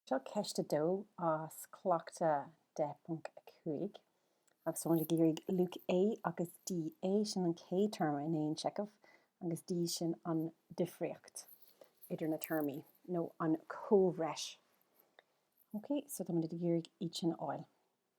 Seo ceist a dó as Cleachtadh 10.5 agus táimid ag iarraidh luach A agus D. A sin an chéad téarma in aon seicheamh agus D sin an difríocht idir na téarmaí nó an comhbhreis. Ok, so táimid ag iarraidh iad sin a fháil.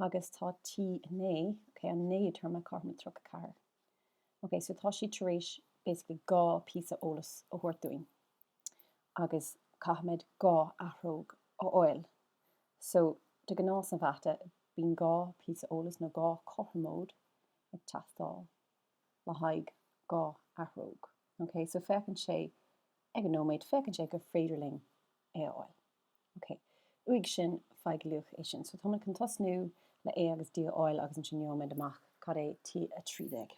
Agus tá T9, okay, an 9ú téarma, cothrom le 34. Okay, so tá siad tar éis basically dhá phíosa eolas a thabhairt dúinn agus caithfimid dhá athróg a fháil. So, de ghnáth sa mhata, bíonn dhá phíosa eolas nó dhá chothromóid ag teastáil le haghaidh dhá athróg. Okay, so féachann sé, ag an nóiméad, féachann sé gur féidir linn é a fháil. Ok. Uaidh sin, faigh luach é sin. So tá muid chun tosnú le A agus D a fháil agus ansin gheobhaidh muid amach cad é T13.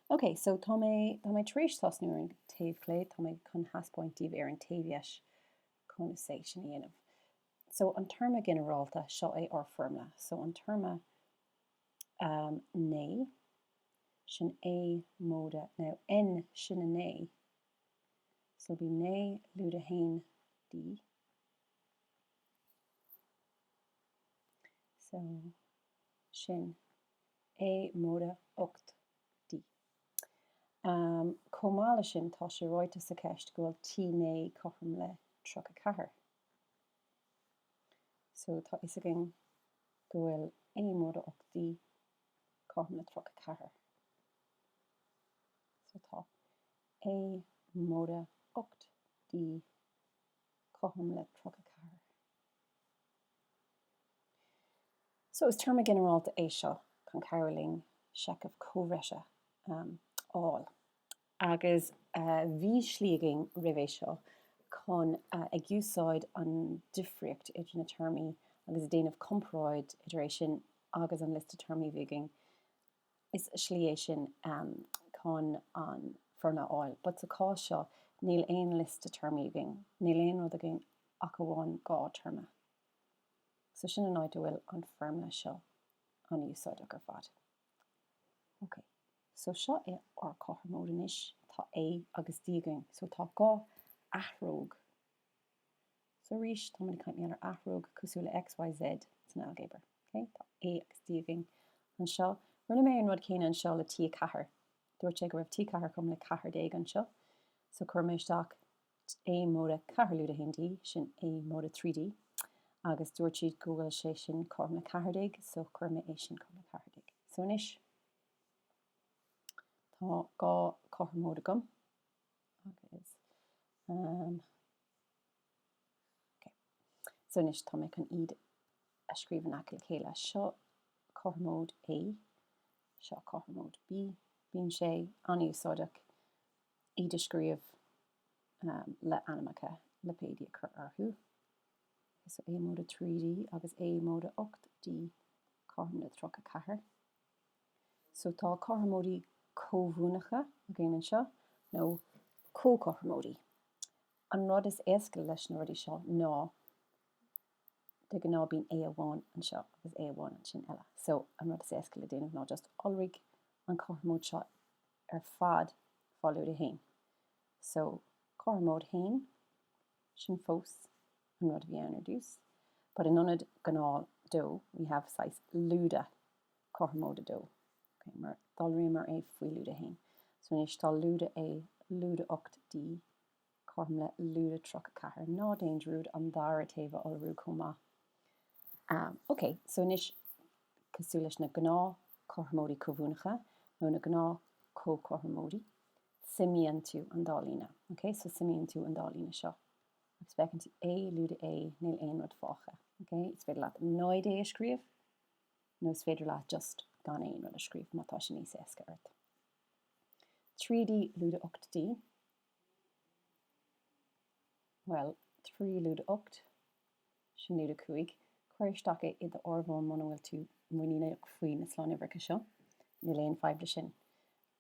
Ok, so tá mé, tá mé tar éis tosnú ar an taobh chlé, tá mé chun thaispeáint daoibh ar an taobh dheis conas é sin a dhéanamh. So an téarma ginearálta, seo é ár foirmle. So an téarma ehm, 9, sin A móide, now, N sin 9, So bhí naoi lúide a haon D. So sin A móide ocht D. Chomh maith leis sin, tá sé ráite sa cheist go bhfuil T naoi cothrom le tríocha ceathair. So tá fhios againn go bhfuil A móide ocht D cothrom le tríocha ceathair. So tá A móide 8 D cothrom le 34. So is téarma ginearálta é seo chun cabhrú linn seicheamh comhbhreise a fháil. Agus bhí slí againn roimh é seo chun a ag úsáid an difríocht idir na téarmaí agus ag déanamh comparáid idir é sin agus an liosta téarmaí a bhí againn is slí é sin chun an foirmle a fháil but sa chás seo níl aon liosta téarmaí againn, níl aon rud againn ach amháin dhá théarma so sin an áit a bhfuil an foirmle seo an-úsáideach ar fad. Ok, so seo é ár cothromóid anois, tá A agus D againn so tá dhá athróg, So arís, táimid ag caint mar gheall ar athróg cosúil le X, Y, Z san ailgéabar. Okay? Tá A agus D againn anseo. Rinne mé an rud céanna anseo le T4. Dúirt sé go raibh T4 cothrom le 14 anseo. So cuir mé isteach A móide 4 lúide 1D, sin A móide 3D. Agus dúirt siad go bhfuil sé sin cothrom le 14, so chuir mé é sin cothrom le 14. So anois, tá dhá cothromóid agam. Agus, um, ok. So anois tá mé chun iad a scríobh in aice le chéile. Seo cothromóid A, seo cothromóid B. Bíonn sé an-úsáideach iad a scríobh, um, le ainmneacha, lipéidí a chur orthu. Ok, so A móide trí D agus A móide ocht D cothrom le tríocha ceathair. So tá cothromóidí comhuaineacha againn anseo, nó comhchothromóidí. An rud is éasca leis na rudaí seo ná, de ghnáth bíonn A amháin anseo agus A amháin ansin eile. So an rud is éasca le déanamh ná just iolraigh an chothromóid seo ar fad faoi lúide 1. So cothromóid 1. Sin fós an rud a bhí ann ar dtús, but in ionad gnáth dó, we have saghas lúide cothromóid a dó, ok? Mar d'iolraíomar é faoi lúide a haon, so anois tá lúide A lúide ocht D cothrom le lúide tríocha ceathair. Ná déan dearmad an dara taobh a iolrú chomh maith. Am, ok, so anois cosúil leis na gnáth cothromóidí comhuaineacha, nó na gnáth comhchothromóidí, suimíonn tú an dá líne. OK? So suimíonn tú an dá líne seo agus feiceann tú A, lúide A, níl aon rud fágtha. OK? Is féidir leat 0 A a scríobh nó is féidir leat just gan aon rud a scríobh má tá sé níos éasca ort. 3D, lúide 8D. Bhuel, 3 lúide 8, sin lúide 5. Cuir isteach é i d'áireamhán muna bhfuil tú muiníneach faoi na slánuimhreacha seo. Níl aon fhadhb leis sin.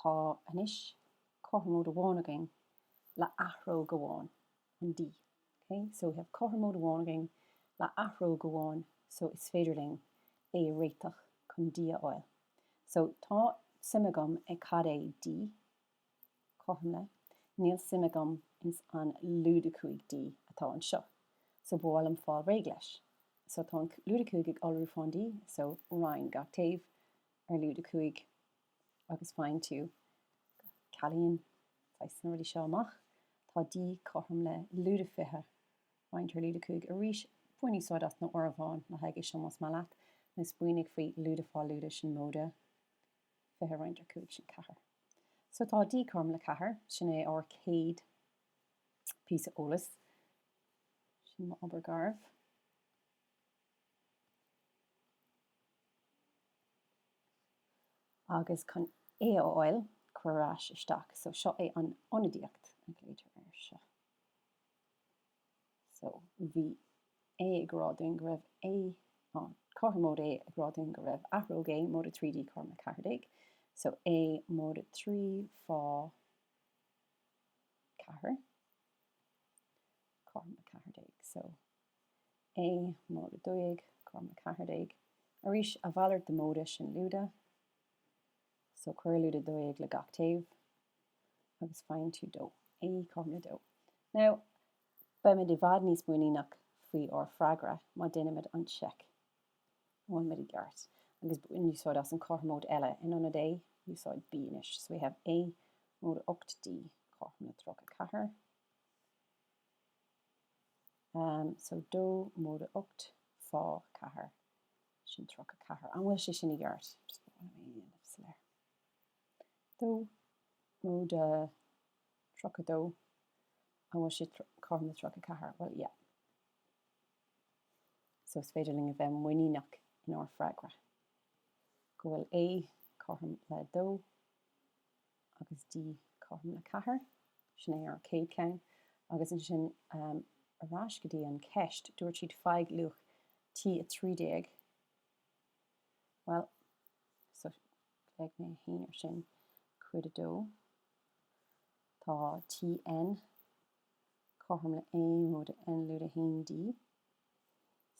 Tá anois cothromóid amháin againn le athróg amháin, an D. Ok? So we have cothromóid amháin againn le athróg amháin, so is féidir linn é a réiteach chun D a fháil. So tá suim agam i cad é D cothrom le, níl suim agam ins an lúide 5D atá anseo. So ba mhaith liom fáil réidh leis. So tá an lúide 5 ag iolrú faoin D, so roinn gach taobh ar lúide 5, agus faigheann tú cealaíonn saghas na rudaí seo amach, tá D cothrom le lúide fiche, roinnt ar lúide cúig, arís bain úsáid as an áireamhán le haghaidh é seo más maith leat, nó smaoinigh faoi lúide faoi lúide sin móide fiche roinnt ar cúig sin ceathair so tá D cothrom le ceathair, sin é ár céad píosa eolas, sin m'obair gharbh. Agus chun A a fháil, cuir ar ais isteach. So, seo é an ionadaíocht a ghlaotar air seo. So, bhí A ag rá dúinn go raibh A, cothromóid A ag rá dúinn go raibh athróg A móide 3D cothrom le 14. So, A móide 3 fá 4 cothrom le 14. So. A móide dó dhéag cothrom le ceathair déag, arís a mhalairt de móide sin lúide, so cuir lúide dó dhéag le gach taobh agus faigheann tú dó, A cothrom le dó. Now, beimid i bhfad níos muiníneach faoi ár bhfreagra má déanaimid an tseic an bhfuilimid i gceart, agus bain úsáid as an cothromóid eile in ionad A, úsáid B anois, so we have A, móide 8D, Cothrom le 34, Am so dó móide ocht fá ceathair, sin tríocha ceathair. An bhfuil sé sin i gceart? Just bear with me, nílim soiléir. Dó móide tríocha dó, an bhfuil sé cothrom le tríocha ceathair? Bhuel, yeah. So is féidir linn a bheith muiníneach inár bhfreagra go bhfuil A cothrom le dó. agus D cothrom le 4, sin é ár céad ceann, agus ansin ar ais go dtí an cheist, dúirt siad faigh luach T13, bhuel so beidh mé fhéin ar sin, cuid a dó, tá Tn cothrom le A móide N lúide 1D,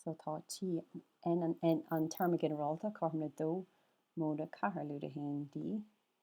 so tá Tn, an téarma ginearálta, cothrom le 2 móide 4 lúide 1D.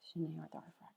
Sin é ár dara freagra.